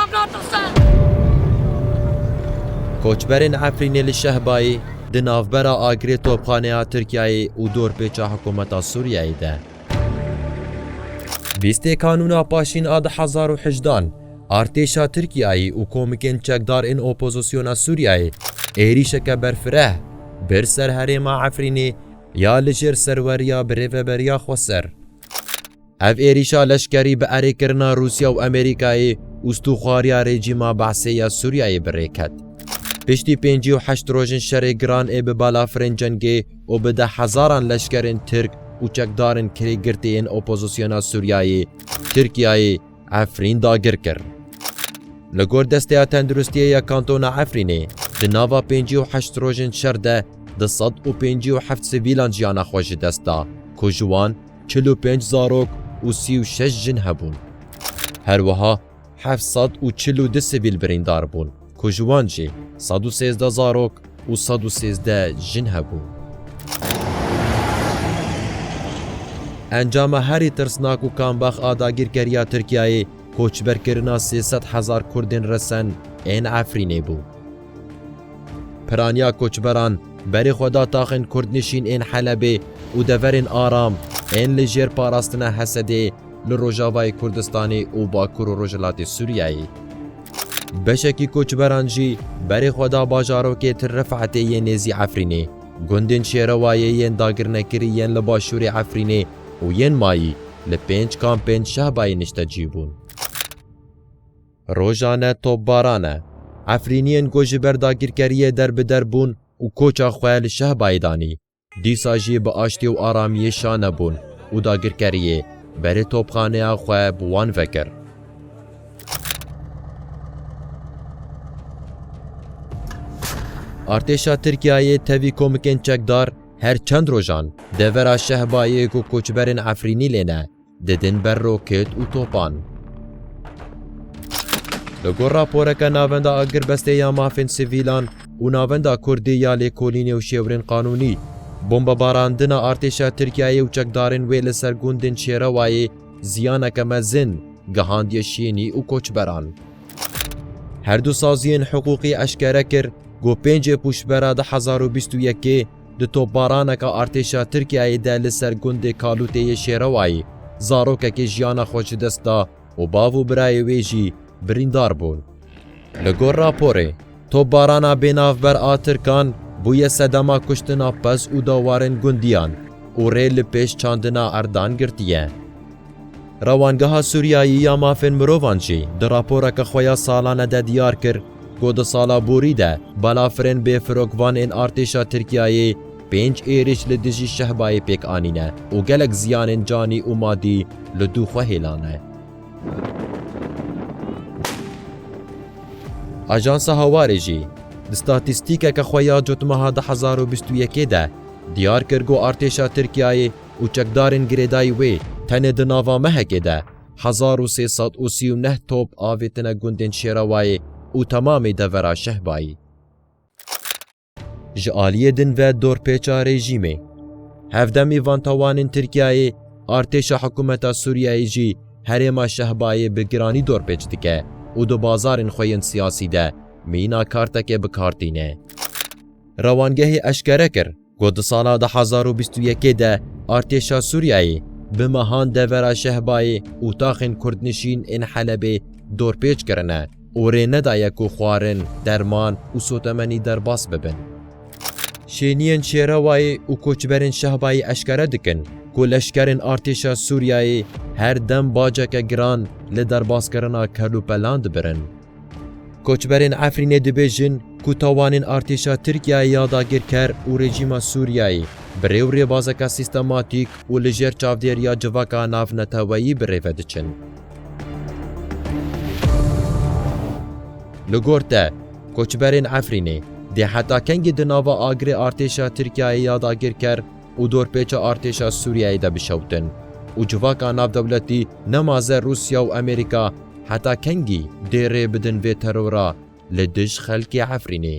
Em natirsin. Koçberên Efrînê li Şehbayê di navbera agirê topxaneya Tirkiyeyê û dorpêça hikûmeta Sûriyeyê de. Bîstê Kanûna Paşîn a du hezar û hejdan, artêşa Tirkiyeyê û komikên çekdar ên opozisyona Sûriyeyê êrîşeke berfireh bir ser herêma Efrînê ya li jêr serweriya Birêveberiya Xweser. Ev êrîşa leşkerî bi erêkirina Rûsya û Amerîkayê û stûxwariya rejîma Be'sê ya Sûriyeyê bi rê ket. Piştî pêncî û heşt rojên şerê giran ê bi balafirên cengê û bi deh hezaran leşkerên Tirk û çekdarên kirê girtî yên opozisyona Sûriyeyê Tirkiyeyê Efrîn dagir kir. Li gor Desteya Tenduristiyê ya Kantona Efrînê, di nava pêncî û heşt rojên şer de du sed û pêncî û heft sivîlan jiyana xwe ji dest da ku ji wan çil û pênc zarok û sî û şeş jin hebûn. Her wiha heft sed û çil û du sivîl birîndar bûn ku ji wan jî sed û sêzdeh zarok û sed û sêzdeh jin hebûn. Encama herî tirsnak û kambax a dagîrkeriya Tirkiyeyê koçberkirina sê sed hezar Kurdên resen ên Efrînê bû. Piraniya koçberan berê xwe da taxên Kurdnişîn ên Helebê û deverên aram ên li jêr parastina Hesedê li rojavayê Kurdistanê û bakur û rojhilatê Sûriyeyê. Beşekî koçberan jî berê xwe da bajarokê Til Rifetê yê nêzî Efrînê, gundên Şêrewayê yên dagirnekirî yên li başûrê Efrînê û yên mayî li pênc kampên Şehbayê niştecî bûn. Rojan e topbaran e. Efrîniyên ku ji ber dagirkeriyê derbider bûn û koça xwe li Şehbayê danî, dîsa jî bi aştî û aramiyê şane bûn û dagirkeriyê berê topxaneya xwe bi wan vekir. Artêşa Tirkiyeyê tevî komikên çekdar her çend rojan devera Şehbayê ku koçberên Efrînî lê ne, didin ber roket û topan. Li gor raporeke Navenda Agirbestê ya Mafên Sivîlan û Navenda Kurdî ya Lêkolînê û Şêwirên Qanûnî, bombebarandina artêşa Tirkiyeyê û çekdarên wê li ser gundên Şêrewayê ziyaneke mezin gihandiye şênî û koçberan. Her du saziyên hiqûqî eşkere kir ku pêncê pûşbera du hezar û bîst û yekê, Di topbaraneka artêşa Tirkiyeyê de li ser gundê Kalûtê yê Şêrewayê zarokekê jiyana xwe ji dest da û bav û birayê wê jî birîndar bûn. Li gor raporê, topbarana bênavber a Tirkan bûye sedema kuştina pez û da warên gundiyan û rê li pêş çandina erdan girtiye. Rewangeha Sûriyayî ya Mafên Mirovan jî di raporeke xwe ya salane de diyar kir, ku di sala borî de balafirên bêfirokvan ên artêşa Tirkiyeyê pênc êrîş li dijî Şehbayê pêk anîne û gelek ziyanên canî û madî li dû xwe hêlane. Ajansa Hawarê jî di statîstîkeke xwe ya cotmeha du hezar û bîst û yekê de diyar kir ku artêşa Tirkiyeyê û çekdarên girêdayî wê tenê di nava mehekê de Hezar û sê sed û sî û neh top avêtine gundên Şêrawayê û temamê devera Şehbayê. Ji aliyê din ve dorpêça rejîmê. Hevdemî van tawanên Tirkiyeyê, artêşa hikûmeta Sûriyeyê jî herêma Şehbayê bi giranî dorpêç dike û di bazarên xwe yên siyasî de mîna kartekê bi kar tîne. Rewangehê eşkere kir, Got di sala du hezar û bîst û yekê de artêşa Sûriyeyê bi mehan devera Şehbayê û taxên kurdnişîn ên Helebê dorpêç kirine û rê nedaye ku xwarin, derman û sotemenî derbas bibin. Şêniyên Şêrewayê û koçberên Şehbayê eşkere dikin ku leşkerên artêşa Sûriyeyê her dem baceke giran li derbaskirina kelûpelan dibirin. Koçberên Efrînê dibêjin ku tawanên artêşa Tirkiyeyê ya dagirker û rejîma Sûriyeyê bi rê û rêbazeke sîstematîk û li jêr çavdêriya civaka navneteweyî bi rê ve diçin. Li gor te, koçberên Efrînê dê heta kengî di nava agirê artêşa Tirkiyeyê ya dagirker û dorpêça artêşa Sûriyeyê de bişewtin û civaka navdewletî nemaze Rûsya û Amerîka heta kengî dê rê bidin vê terora li dij xelkê Efrînê.